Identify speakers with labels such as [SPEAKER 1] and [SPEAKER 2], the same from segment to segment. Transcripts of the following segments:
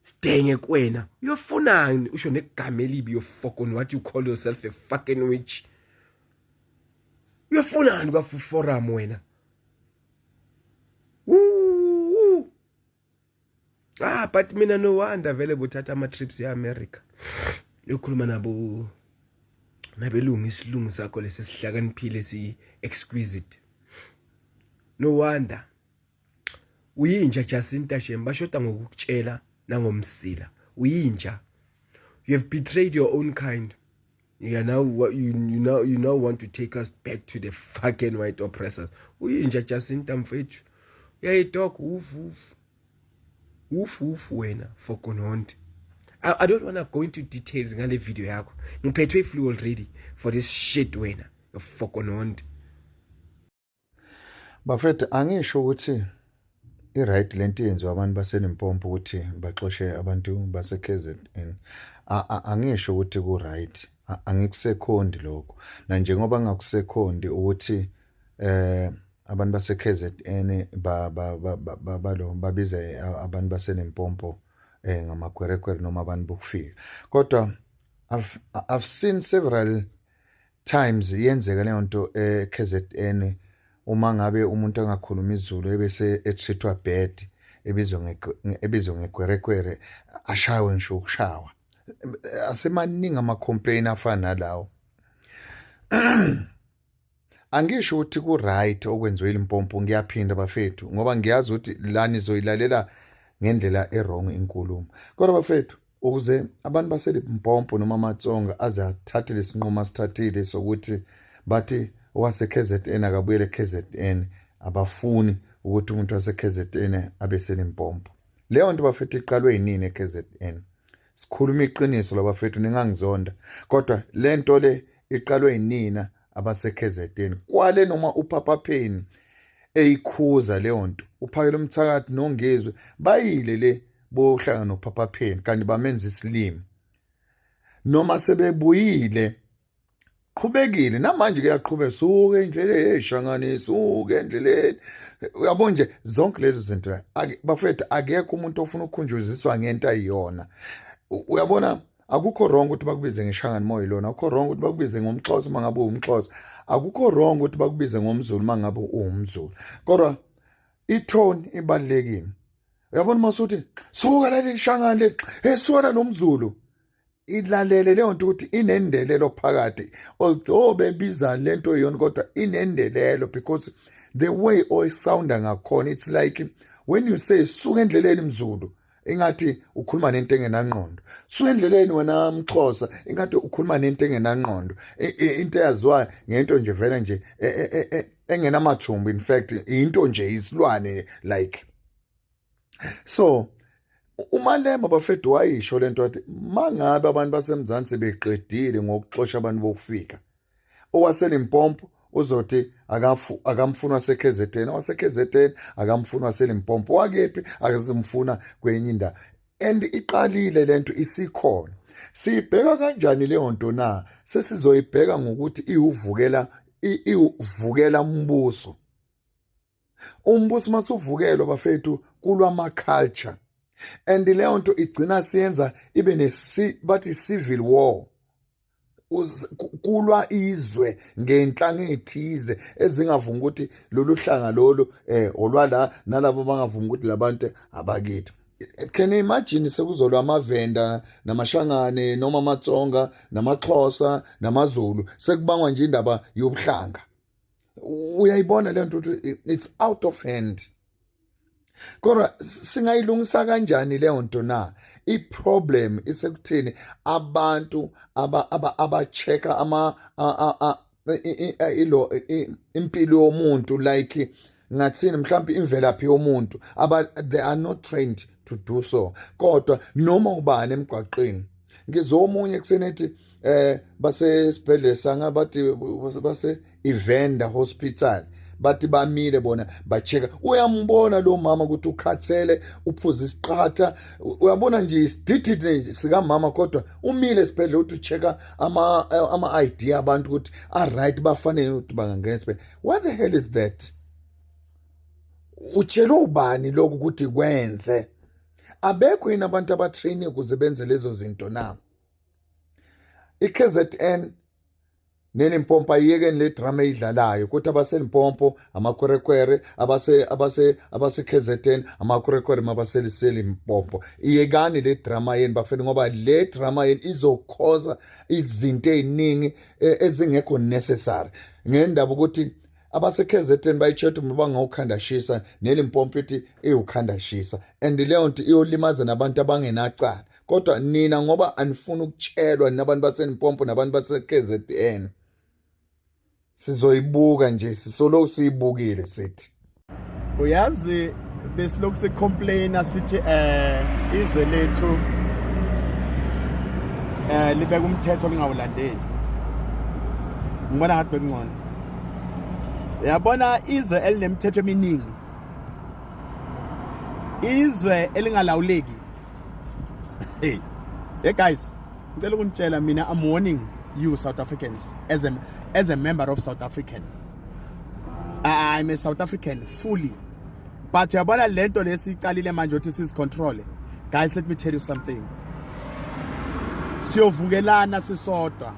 [SPEAKER 1] Sidenge kwena. Uyofunani usho negama elibi yofokoni what you call yourself a fucking witch. Uyofunani kwa forum wena? Ooh. Ah but mina no wonder vele bothatha ama trips e America. Yokhuluma nabo nabelungu isilungu sakho lesi sihlakaniphile si exquisite. No wonder uyinja Jacinta Shem bashoda ngokukutshela nangomsila uyinja you have betrayed your own kind you are now you, you now you now want to take us back to the fucking white oppressors uyinja Jacinta mfethu uyayidoka uvuvu ufu ufu wena for kononde I, I don't want to go into details ngale video yakho ngiphethwe iflu already for this shit wena for kononde
[SPEAKER 2] Bafethu angisho ukuthi i-right le nto yenziwa abantu baselimpopo ukuthi baxoshe abantu base-kzn angisho ukuthi ku-right angikusekhondi lokho nanjengoba ngakusekhondi ukuthi eh abantu base-kzn balo babize abantu baselimpopo um eh, ngamakwerekwere noma abantu bokufika kodwa I've, I've seen several times iyenzeka leyo nto eKZN uma ngabe umuntu angakhuluma izulu ebese ethithwa bad ebizwe ebizwe ngekwerekwere ashawe ngisho ukushawa asemaningi ama-complain afana nalawo angisho ukuthi ku-right okwenziwe ilimpompo ngiyaphinda bafethu ngoba ngiyazi ukuthi la nizoyilalela ngendlela erong inkulumo kodwa bafethu ukuze abantu baseLimpompo noma amaTsonga aze athathe lesinqumo asithathile sokuthi bathi owaseKZN akabuyele eKZN abafuni ukuthi umuntu waseKZN abe seLimpompo leyo nto bafethu iqalwe yinini eKZN sikhuluma iqiniso labafethu ningangizonda kodwa le nto le iqalwe yinina abaseKZN kwale noma uPapa Pheni eyikhuza leyo nto uphakela umthakathi nongezwe bayile le boyohlangana nophaphapheni kanti bamenza isilimi noma sebebuyile qhubekile namanje kuyaqhubeka suke endleleni eshangane suke endleleni uyabo nje zonke lezo zinto bafethu akekho umuntu ofuna ukukhunjuziswa ngento ayiyona uyabona akukho wrong ukuthi bakubize ngeshangane moya lona akukho wrong ukuthi bakubize ngomxhosa uma ngabe uwumxhosa akukho wrong ukuthi bakubize ngomzulu uma ngabe uwumzulu kodwa itone ibalulekile uyabona uma usuthi suka laleli shangane leli esiwona nomzulu ilalele leyo nto ukuthi inendelelo phakathi although bebiza le nto yona kodwa inendelelo because the way oyisounda ngakhona it's like when you say suka endleleni mzulu ingathi ukhuluma nento engenangqondo suka endleleni wena mxhosa ingathi ukhuluma nento engenangqondo into eyaziwayo ngento nje vele nje e, e, e, engenamathumbu in fact into nje isilwane like so umalema bafethu wayisho lento athi mangabe abantu basemzansi beqedile ngokuxosha abantu bokufika owaselimpompo uzothi akafu akamfuna waseKZN waseKZN akamfuna waselimpompo wakephi akazimfuna kwenye indawo and iqalile lento isikhona siyibheka kanjani leyo nto na sesizoyibheka ngokuthi iwuvukela iwuvukela umbuso umbuso masuvukelwa bafethu kulwama culture and leyo nto igcina siyenza ibe nesi bathi civil war kulwa izwe ngenhlanga ethize ezingavuma ukuthi lolu hlanga lolu eh olwala nalabo bangavuma ukuthi labantu abakithi can imagine sekuzolwa amavenda namashangane noma amatsonga namaxhosa namazulu sekubangwa nje indaba yobuhlanga uyayibona lento ukuthi it's out of hand kodwa singayilungisa kanjani leyo nto na iproblem isekutheni abantu aba-check-a ama ilo impilo yomuntu like ngathini mhlawumbe imvelaphi yomuntu aba they are not trained to do so kodwa noma ubani emgwaqeni ngizomunye kusenethi eh basesibhedlela sanga bathi base Evander Hospital bathi bamile bona bacheka uyambona lo mama ukuthi ukhathele uphuza isiqhatha uyabona nje isididide nje sikamama kodwa umile esibhedlela uthi ucheka ama ama ID abantu ukuthi a right bafanele ukuthi bangangena esibhedlela what the hell is that utshelwe ubani lokhu ukuthi kwenze abekho yini abantu abatraine ukuze benze lezo zinto na iKZN nelimpompo ayiyekeni le drama eyidlalayo kuthi abaselimpompo amakwerekwere abase abase abaseKZN amakwerekwere mabaseliselimpompo iyekani le drama yeni bafethu ngoba le drama yeni izokhoza izinto eziningi e, ezingekho necessary ngendaba ukuthi abaseKZN bayitshetha uma bangawukhanda shisa nelimpompo ithi iwukhanda shisa and leyo nto iyolimaza nabantu abangenacala kodwa nina ngoba anifuni ukutshelwa ninabantu basenimpompo nabantu base-kzn sizoyibuka nje sisoloku siyibukile sithi uyazi
[SPEAKER 3] besilokhu sicomplaina sithi eh izwe lethu eh libeka umthetho lingawulandeli ngibona ngathi bekungcono yabona izwe elinemithetho eminingi izwe elingalawuleki hey hey guys ngicela ukunitshela mina i'm warning you south africans as a, as a member of south african i'm a south african fully but uyabona lento lesiqalile manje ukuthi sizicontrole guys let me tell you something siyovukelana sisodwa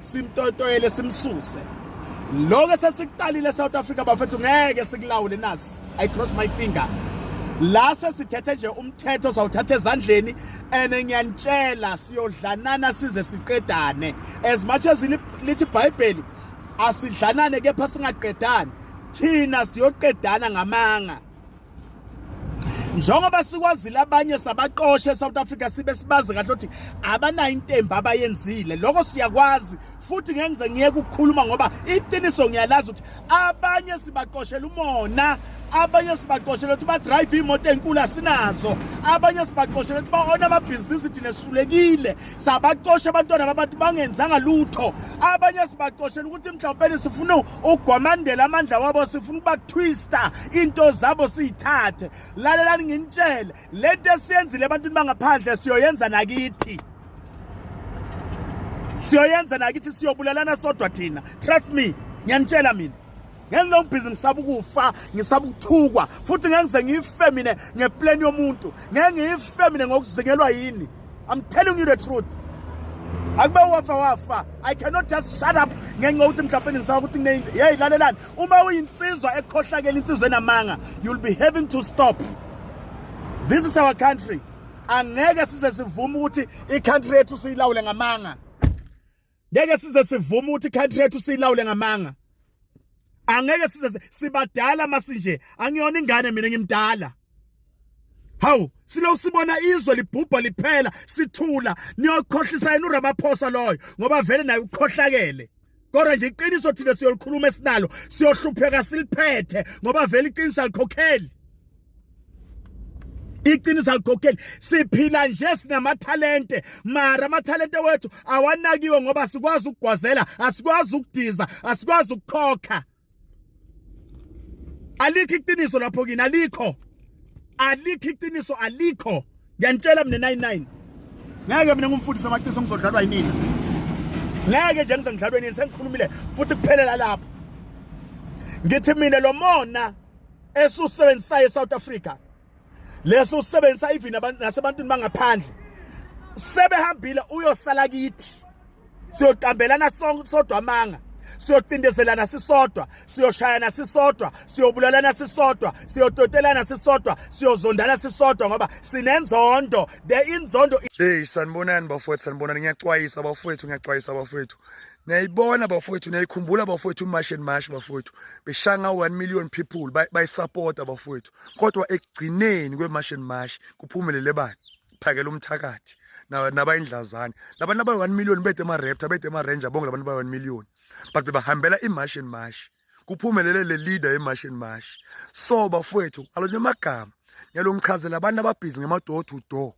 [SPEAKER 3] simtotoyele simsuse lokho esesikuqalile South Africa bafethu ngeke sikulawule nasi i cross my finger la sesithethe nje umthetho sawuthatha ezandleni and ngiyanitshela siyodlanana size siqedane as much as lithi iBhayibheli asidlanane kepha singaqedani thina siyoqedana ngamanga njengoba sikwazile abanye sabaqoshe eSouth Africa sibe sibazi kahle ukuthi abanayo intemba abayenzile lokho siyakwazi futhi ngeke ngize ngiyeke ukukhuluma ngoba iqiniso ngiyalazi ukuthi abanye sibaqoshela umona abanye sibaqoshela ukuthi badrive imoto enkulu asinazo abanye sibaqoshela ukuthi baona amabhizinisi thina sihlulekile sabaqosha abantwana babantu bangenzanga lutho abanye sibaqoshela ukuthi mhlawumbe sifuna ugwamandela amandla wabo sifuna ukuba twister into zabo siyithathe lalelani nginitshele lento esiyenzile ebantwini bangaphandle siyoyenza nakithi siyoyenza nakithi siyobulalana sodwa thina trust me ngiyanitshela mina ngenza ubhizi ngisaba ukufa ngisaba ukuthukwa futhi ngengize ngife mina ngeplan yomuntu ngengife mina ngokuzingelwa yini I'm telling you the truth. akube wafa wafa i cannot just shut up ngenxa yokuthi mhlawumbe ngisaba ukuthi kuneyinto yeyi lalelani uma uyinsizwa ekhohlakela insizwa enamanga you'll be having to stop this is our country angeke size sivume ukuthi i-country yethu siyilawule ngamanga ngeke size sivume ukuthi country yethu silawule ngamanga angeke size sibadala masinje angiyona ingane mina ngimdala Hawu silo sibona izwe libhubha liphela sithula niyokhohlisa yena uRamaphosa loyo ngoba vele naye ukhohlakele Kodwa nje iqiniso thina siyolikhuluma esinalo siyohlupheka siliphethe ngoba vele iqiniso alikhokheli iqiniso alikhokheli siphila nje sinamathalente mara amathalente wethu awanakiwe ngoba sikwazi ukugwazela asikwazi ukudiza asikwazi ukukhokha alikho iqiniso lapho kini alikho alikho iqiniso alikho ngiyanitshela mina 99 ngeke mina ngumfundisi amaqiniso ngizodlalwa yinini ngeke nje ngizengidlalwe nini sengikhulumile futhi kuphelela lapho ngithi mina lomona esiwusebenzisayo eSouth Africa leso usebenzisa even abantu nasebantwini bangaphandle sebehambile uyosala kithi siyoqambelana sonke sodwa amanga siyocindezelana sisodwa siyoshayana sisodwa siyobulalana sisodwa siyototelana sisodwa siyozondana sisodwa ngoba sinenzondo the inzondo hey sanibonani
[SPEAKER 4] bafowethu sanibonani ngiyacwayisa bafowethu ngiyacwayisa bafowethu niyayibona bafowethu niyayikhumbula bafowethu umash and mash bafowethu beshanga 1 million people bayisupporta bafowethu kodwa ekugcineni kwemash and mash kuphumelele bani phakela umthakathi nabayindlazane labantu abayi 1 million bede ama raptor bede ama ranger bonke labantu abayi 1 million but bebahambela imash and mash kuphumelele le leader yemash and mash so bafowethu alonye amagama ngiyalongichazela abantu ababhizi ngema door to door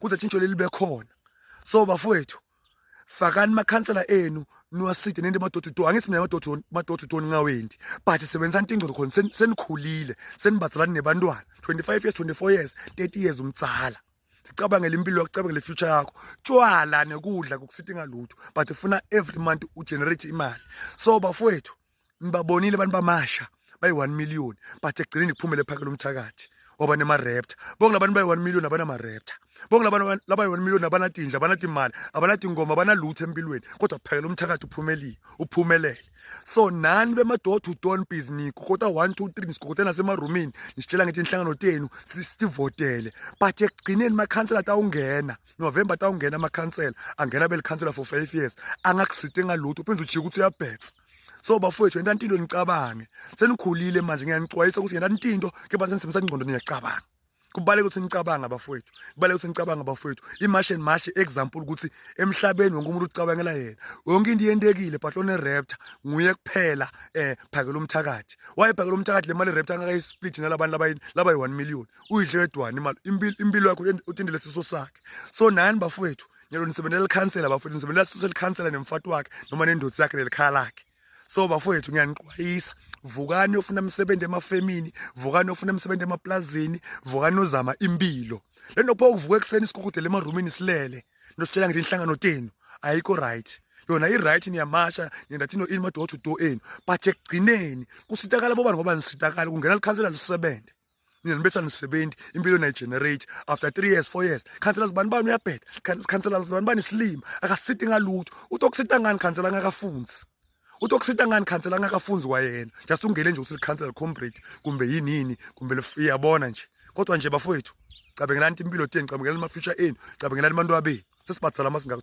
[SPEAKER 4] kuze tshintsho leli bekhona so bafowethu fakani makhansela enu niwaside nento amadododoni angithi mina amadododoni amadododoni ngawendi but sebenzisani into ingcono khona senikhulile senibazalani nebantwana 25 years 24 years 30 years umtsala sicabangele impilo yakho cabangele future yakho tshwala nekudla kokusithi ngalutho but ufuna every month ugenerate imali so bafowethu ngibabonile abantu bamasha bayi-one million but ekugcineni kuphumele phakela umthakathi waba nema-raptor bonke labantu bayi-one million abanama-raptor bonke labayi-one million abanatindla abanatimali abanatingoma abanalutho empilweni kodwa kuphakela umthakathi uphumelile uphumelele so nani bemadoda udon bizniko kodwa one two three nisigogote nasemarumini nisitshela ngithi inhlangano tenu sivotele but ekugcineni makhansela atawungena si November tawungena amakhansela angena belikhansela for 5 years angakusite ngalutho uphinde ujike ukuthi uyabhetha so bafowethu yena into nicabange senikhulile manje ngiyanicwayisa ukuthi yena into ke bathi nisebenzisa ingqondo niyacabanga kubaleka ukuthi nicabanga bafowethu kubaleka ukuthi nicabanga bafowethu imash and mash example ukuthi emhlabeni wonke umuntu ucabangela yena yonke into yentekile but one raptor nguye kuphela eh phakela umthakathi waye phakela umthakathi le mali raptor angakayisplit nalabantu laba laba 1 million uyidle wedwana imali impilo yakho uthindele siso sakhe so nani bafowethu nyalo nisebenzela likhansela bafowethu nisebenzela siso likhansela nemfati wakhe noma nendoda yakhe nelikhaya lakhe so bafowethu ngiyaniqwayisa vukani yofuna imisebenzi emafemini vukani yofuna imisebenzi emaplazini vukani uzama impilo le nto pho uvuka ekuseni isikhukhudele emarumini silele nositshela ngithi inhlangano tenu ayikho right yona i-right niyamasha nindathi no-ini madoda udo enu but ekugcineni kusitakala bobani ngoba nisitakala kungena likhansela lisebenze nina nibe sanisebenzi impilo nayigenerate after three years four years khansela zibani bani uyabheda khansela zibani bani isilima akasiti ngalutho uthi okusita ngani khansela angakafunzi uthi okusita ngani khansela angakafunzi kwayena just ungele nje ukuthi likhansela comrade kumbe yini yini kumbe iyabona nje kodwa nje bafowethu cabengelani impilo teni cabengelani ama-future enu cabengelani abantu abenu sesibhadala amasingaka